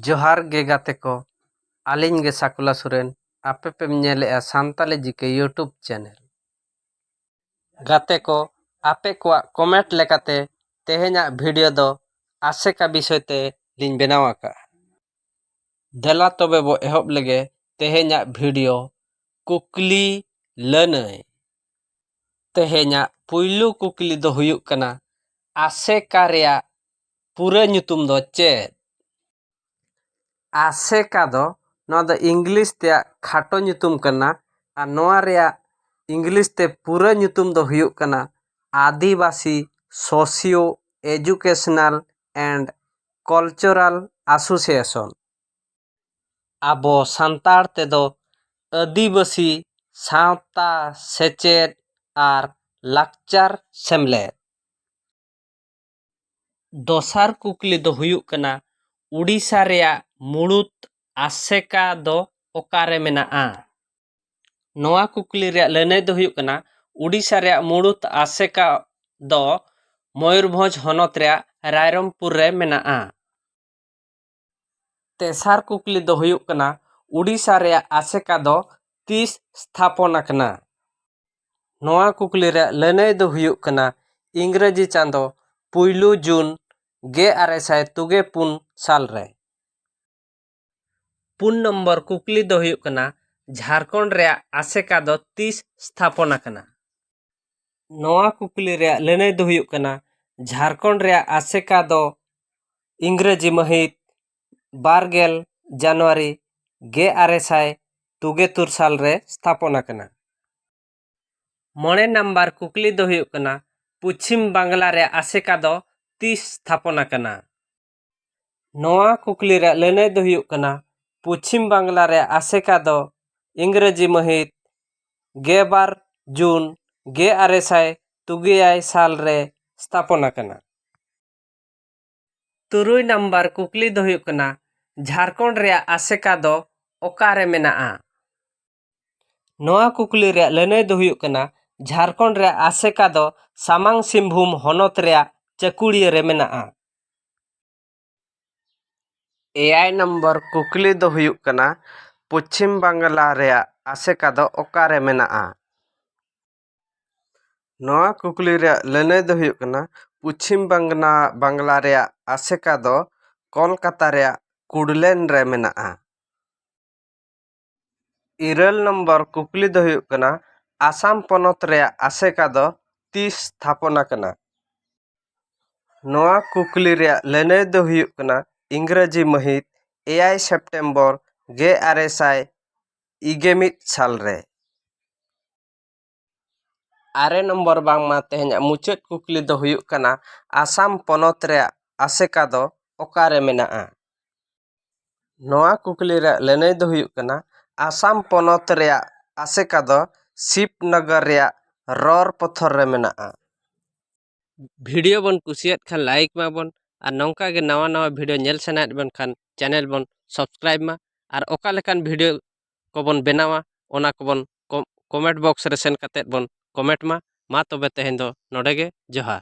ᱡᱚᱦᱟᱨ ᱜᱮ ᱜᱟᱛᱮ ᱠᱚ ᱟᱹᱞᱤᱧ ᱜᱮ ᱥᱟᱠᱩᱞᱟ ᱥᱚᱨᱮᱱ ᱟᱯᱮ ᱯᱮᱢ ᱧᱮᱞᱮᱜᱼᱟ ᱥᱟᱱᱛᱟᱞᱤ ᱡᱤᱠᱮ ᱭᱩᱴᱩᱵᱽ ᱪᱮᱱᱮᱞ ᱜᱟᱛᱮ ᱠᱚ ᱟᱯᱮ ᱠᱚᱣᱟᱜ ᱠᱚᱢᱮᱱᱴ ᱞᱮᱠᱟᱛᱮ ᱛᱮᱦᱮᱧᱟᱜ ᱵᱷᱤᱰᱤᱭᱳ ᱫᱚ ᱟᱥᱮᱠᱟ ᱵᱤᱥᱚᱭ ᱛᱮ ᱞᱤᱧ ᱵᱮᱱᱟᱣ ᱟᱠᱟᱫᱼᱟ ᱫᱮᱞᱟ ᱛᱚᱵᱮ ᱵᱚ ᱮᱦᱚᱵ ᱞᱮᱜᱮ ᱛᱮᱦᱮᱧᱟᱜ ᱵᱷᱤᱰᱤᱭᱳ ᱠᱩᱠᱞᱤ ᱞᱟᱹᱱᱟᱹᱭ ᱛᱮᱦᱮᱧᱟᱜ ᱯᱩᱭᱞᱩ ᱠᱩᱠᱞᱤ ᱫᱚ ᱦᱩᱭᱩᱜ ᱠᱟᱱᱟ ᱟᱥᱮᱠᱟ ᱨᱮᱭᱟᱜ ᱯᱩᱨᱟᱹ ᱧᱩᱛᱩᱢ ᱫᱚ ᱪᱮᱫ ᱟᱥᱮᱠᱟ ᱫᱚ ᱱᱚᱣᱟ ᱫᱚ ᱤᱝᱞᱤᱥ ᱛᱮᱭᱟᱜ ᱠᱷᱟᱴᱚ ᱧᱩᱛᱩᱢ ᱠᱟᱱᱟ ᱟᱨ ᱱᱚᱣᱟ ᱨᱮᱭᱟᱜ ᱤᱝᱞᱤᱥ ᱛᱮ ᱯᱩᱨᱟᱹ ᱧᱩᱛᱩᱢ ᱫᱚ ᱦᱩᱭᱩᱜ ᱠᱟᱱᱟ Adivasi socio educational and cultural association ᱟᱵᱚ ᱥᱟᱱᱛᱟᱲ ᱛᱮᱫᱚ ᱟᱹᱫᱤᱵᱟᱹᱥᱤ ᱥᱟᱶᱛᱟ ᱥᱮᱪᱮᱫ ᱟᱨ ᱞᱟᱠᱪᱟᱨ ᱥᱮᱢᱞᱮᱫ ᱫᱚᱥᱟᱨ ᱠᱩᱠᱞᱤ ᱫᱚ ᱦᱩᱭᱩᱜ ᱠᱟᱱᱟ ᱳᱰᱤᱥᱟ ᱨᱮᱭᱟᱜ ᱢᱩᱬᱩᱛ ᱟᱥᱮᱠᱟ ᱫᱚ ᱚᱠᱟᱨᱮ ᱢᱮᱱᱟᱜᱼᱟ ᱱᱚᱣᱟ ᱠᱩᱠᱞᱤ ᱨᱮᱭᱟᱜ ᱞᱟᱹᱱᱟᱹᱭ ᱫᱚ ᱦᱩᱭᱩᱜ ᱠᱟᱱᱟ ᱳᱰᱤᱥᱟ ᱨᱮᱭᱟᱜ ᱢᱩᱬᱩᱛ ᱟᱥᱮᱠᱟ ᱫᱚ ᱢᱚᱭᱩᱨᱵᱷᱚᱸᱡᱽ ᱦᱚᱱᱚᱛ ᱨᱮᱭᱟᱜ ᱨᱟᱭᱨᱚᱝᱯᱩᱨ ᱨᱮ ᱢᱮᱱᱟᱜᱼᱟ ᱛᱮᱥᱟᱨ ᱠᱩᱠᱞᱤ ᱫᱚ ᱦᱩᱭᱩᱜ ᱠᱟᱱᱟ ᱳᱰᱤᱥᱟ ᱨᱮᱭᱟᱜ ᱟᱥᱮᱠᱟ ᱫᱚ ᱛᱤᱥ ᱥᱛᱷᱟᱯᱚᱱ ᱟᱠᱟᱱᱟ ᱱᱚᱣᱟ ᱠᱩᱠᱞᱤ ᱨᱮᱭᱟᱜ ᱞᱟᱹᱱᱟᱹᱭ ᱫᱚ ᱦᱩᱭᱩᱜ ᱠᱟᱱᱟ ᱤᱝᱨᱮᱡᱤ ᱪᱟᱸᱫᱚ ᱯᱩᱭᱞᱩ ᱡᱩᱱ ᱜᱮ ᱟᱨᱮ ᱥᱟᱭ ᱛᱩᱜᱮ ᱯᱩᱱ ᱥᱟᱞ ᱨᱮ ᱯᱩᱱ ᱱᱚᱢᱵᱚᱨ ᱠᱩᱠᱞᱤ ᱫᱚ ᱦᱩᱭᱩᱜ ᱠᱟᱱᱟ ᱡᱷᱟᱲᱠᱷᱚᱸᱰ ᱨᱮᱭᱟᱜ ᱟᱥᱮᱠᱟ ᱫᱚ ᱛᱤᱥ ᱥᱛᱷᱟᱯᱚᱱ ᱟᱠᱟᱱᱟ ᱱᱚᱣᱟ ᱠᱩᱠᱞᱤ ᱨᱮᱭᱟᱜ ᱞᱟᱹᱱᱟᱹᱭ ᱫᱚ ᱦᱩᱭᱩᱜ ᱠᱟᱱᱟ ᱡᱷᱟᱲᱠᱷᱚᱸᱰ ᱨᱮᱭᱟᱜ ᱟᱥᱮᱠᱟ ᱫᱚ ᱤᱝᱨᱮᱡᱤ ᱢᱟᱹᱦᱤᱛ ᱵᱟᱨ ᱜᱮᱞ ᱡᱟᱱᱩᱣᱟᱨᱤ ᱜᱮ ᱟᱨᱮ ᱥᱟᱭ ᱛᱩᱜᱮ ᱛᱩᱨ ᱥᱟᱞ ᱨᱮ ᱛᱷᱟᱯᱚᱱ ᱟᱠᱟᱱᱟ ᱢᱚᱬᱮ ᱱᱟᱢᱵᱟᱨ ᱠᱩᱠᱞᱤ ᱫᱚ ᱦᱩᱭᱩᱜ ᱠᱟᱱᱟ ᱯᱚᱪᱷᱤᱢ ᱵᱟᱝᱞᱟ ᱨᱮᱭᱟᱜ ᱟᱥᱮᱠᱟ ᱫᱚ ᱛᱤᱥ ᱛᱷᱟᱯᱚᱱ ᱟᱠᱟᱱᱟ ᱱᱚᱣᱟ ᱠᱩᱠᱞᱤ ᱨᱮᱭᱟᱜ ᱞᱟᱹᱱᱟᱹᱭ ᱫᱚ ᱦᱩᱭᱩᱜ ᱠᱟᱱᱟ ᱯᱚᱪᱷᱤᱢ ᱵᱟᱝᱞᱟ ᱨᱮᱭᱟᱜ ᱟᱥᱮᱠᱟ ᱫᱚ ᱤᱝᱨᱮᱡᱤ ᱢᱟᱹᱦᱤᱛ ᱜᱮ ᱵᱟᱨ ᱡᱩᱱ ᱜᱮ ᱟᱨᱮ ᱥᱟᱭ ᱛᱩᱜᱮ ᱮᱭᱟᱭ ᱥᱟᱞ ᱨᱮ ᱥᱛᱷᱟᱯᱚᱱ ᱟᱠᱟᱱᱟ᱾ ᱛᱩᱨᱩᱭ ᱱᱟᱢᱵᱟᱨ ᱠᱩᱠᱞᱤ ᱫᱚ ᱦᱩᱭᱩᱜ ᱠᱟᱱᱟ ᱡᱷᱟᱨᱠᱷᱚᱸᱰ ᱨᱮᱭᱟᱜ ᱟᱥᱮᱠᱟ ᱫᱚ ᱚᱠᱟ ᱨᱮ ᱢᱮᱱᱟᱜᱼᱟ? ᱱᱚᱣᱟ ᱠᱩᱠᱞᱤ ᱨᱮᱭᱟᱜ ᱞᱟᱹᱱᱟᱹᱭ ᱫᱚ ᱦᱩᱭᱩᱜ ᱠᱟᱱᱟ ᱡᱷᱟᱨᱠᱷᱚᱸᱰ ᱨᱮᱭᱟᱜ ᱟᱥᱮᱠᱟ ᱫᱚ ᱥᱟᱢᱟᱝ ᱥᱤᱝᱵᱷᱩᱢ ᱦᱚᱱᱚᱛ ᱨᱮᱭᱟᱜ ᱪᱟᱹᱠᱩᱲᱤᱭᱟᱹ ᱨᱮ ᱢᱮᱱᱟᱜᱼᱟ ᱮᱭᱟᱭ ᱱᱚᱢᱵᱚᱨ ᱠᱩᱠᱞᱤ ᱫᱚ ᱦᱩᱭᱩᱜ ᱠᱟᱱᱟ ᱯᱚᱪᱷᱤᱢ ᱵᱟᱝᱞᱟ ᱨᱮᱭᱟᱜ ᱟᱥᱮᱠᱟ ᱫᱚ ᱚᱠᱟᱨᱮ ᱢᱮᱱᱟᱜᱼᱟ ᱱᱚᱣᱟ ᱠᱩᱠᱞᱤ ᱨᱮᱭᱟᱜ ᱞᱟᱹᱱᱟᱹᱭ ᱫᱚ ᱦᱩᱭᱩᱜ ᱠᱟᱱᱟ ᱯᱚᱪᱷᱤᱢ ᱵᱟᱝᱞᱟ ᱵᱟᱝᱞᱟ ᱨᱮᱭᱟᱜ ᱟᱥᱮᱠᱟ ᱫᱚ ᱠᱚᱞᱠᱟᱛᱟ ᱨᱮᱭᱟᱜ ᱠᱩᱰᱞᱮᱱ ᱨᱮ ᱢᱮᱱᱟᱜᱼᱟ ᱤᱨᱟᱹᱞ ᱱᱚᱢᱵᱚᱨ ᱠᱩᱠᱞᱤ ᱫᱚ ᱦᱩᱭᱩᱜ ᱠᱟᱱᱟ ᱟᱥᱟᱢ ᱯᱚᱱᱚᱛ ᱨᱮᱭᱟᱜ ᱟᱥᱮᱠᱟ ᱫᱚ ᱛᱤᱥ ᱛᱷᱟᱯᱚᱱ ᱟᱠᱟᱱᱟ ᱱᱚᱣᱟ ᱠᱩᱠᱞᱤ ᱨᱮᱭᱟᱜ ᱞᱟᱹᱱᱟᱹᱭ ᱫᱚ ᱦᱩᱭᱩᱜ ᱠᱟᱱᱟ ᱤᱝᱨᱮᱡᱤ ᱢᱟᱹᱦᱤᱛ ᱮᱭᱟᱭ ᱥᱮᱯᱴᱮᱢᱵᱚᱨ ᱜᱮ ᱟᱨᱮ ᱥᱟᱭ ᱤᱜᱮ ᱢᱤᱫ ᱥᱟᱞ ᱨᱮ ᱟᱨᱮ ᱱᱚᱢᱵᱚᱨ ᱵᱟᱝᱢᱟ ᱛᱮᱦᱮᱧᱟᱜ ᱢᱩᱪᱟᱹᱫ ᱠᱩᱠᱞᱤ ᱫᱚ ᱦᱩᱭᱩᱜ ᱠᱟᱱᱟ ᱟᱥᱟᱢ ᱯᱚᱱᱚᱛ ᱨᱮᱭᱟᱜ ᱟᱥᱮᱠᱟ ᱫᱚ ᱚᱠᱟᱨᱮ ᱢᱮᱱᱟᱜᱼᱟ ᱱᱚᱣᱟ ᱠᱩᱠᱞᱤ ᱨᱮᱭᱟᱜ ᱞᱟᱹᱱᱟᱹᱭ ᱫᱚ ᱦᱩᱭᱩᱜ ᱠᱟᱱᱟ ᱟᱥᱟᱢ ᱯᱚᱱᱚᱛ ᱨᱮᱭᱟᱜ ᱟᱥᱮᱠᱟ ᱫᱚ ᱥᱤᱵᱽᱱᱚᱜᱚᱨ ᱨᱮᱭᱟᱜ ᱨᱚᱲ ᱯᱚᱛᱷᱚᱨ ᱨᱮ ᱢᱮᱱᱟᱜᱼᱟ ᱵᱷᱤᱰᱤᱭᱳ ᱵᱚᱱ ᱠᱩᱥᱤᱭᱟᱫ ᱠᱷᱟᱱ ᱞᱟᱭᱤᱠ ᱢᱟᱵᱚᱱ ᱟᱨ ᱱᱚᱝᱠᱟ ᱜᱮ ᱱᱟᱣᱟ ᱱᱟᱣᱟ ᱵᱷᱤᱰᱤᱭᱳ ᱧᱮᱞ ᱥᱟᱱᱟᱭᱮᱫ ᱵᱚᱱ ᱠᱷᱟᱱ ᱪᱮᱱᱮᱞ ᱵᱚᱱ ᱥᱟᱵᱥᱠᱨᱟᱭᱤᱵᱽ ᱢᱟ ᱟᱨ ᱚᱠᱟ ᱞᱮᱠᱟᱱ ᱵᱷᱤᱰᱤᱭᱳ ᱠᱚᱵᱚᱱ ᱵᱮᱱᱟᱣᱟ ᱚᱱᱟ ᱠᱚᱵᱚᱱ ᱠᱚᱢᱮᱱᱴ ᱵᱚᱠᱥ ᱨᱮ ᱥᱮᱱ ᱠᱟᱛᱮᱫ ᱵᱚᱱ ᱠᱚᱢᱮᱱᱴ ᱢᱟ ᱢᱟ ᱛᱚᱵᱮ ᱛᱮᱦᱮᱧ ᱫᱚ ᱱᱚᱰᱮ ᱜᱮ ᱡᱚᱦᱟᱨ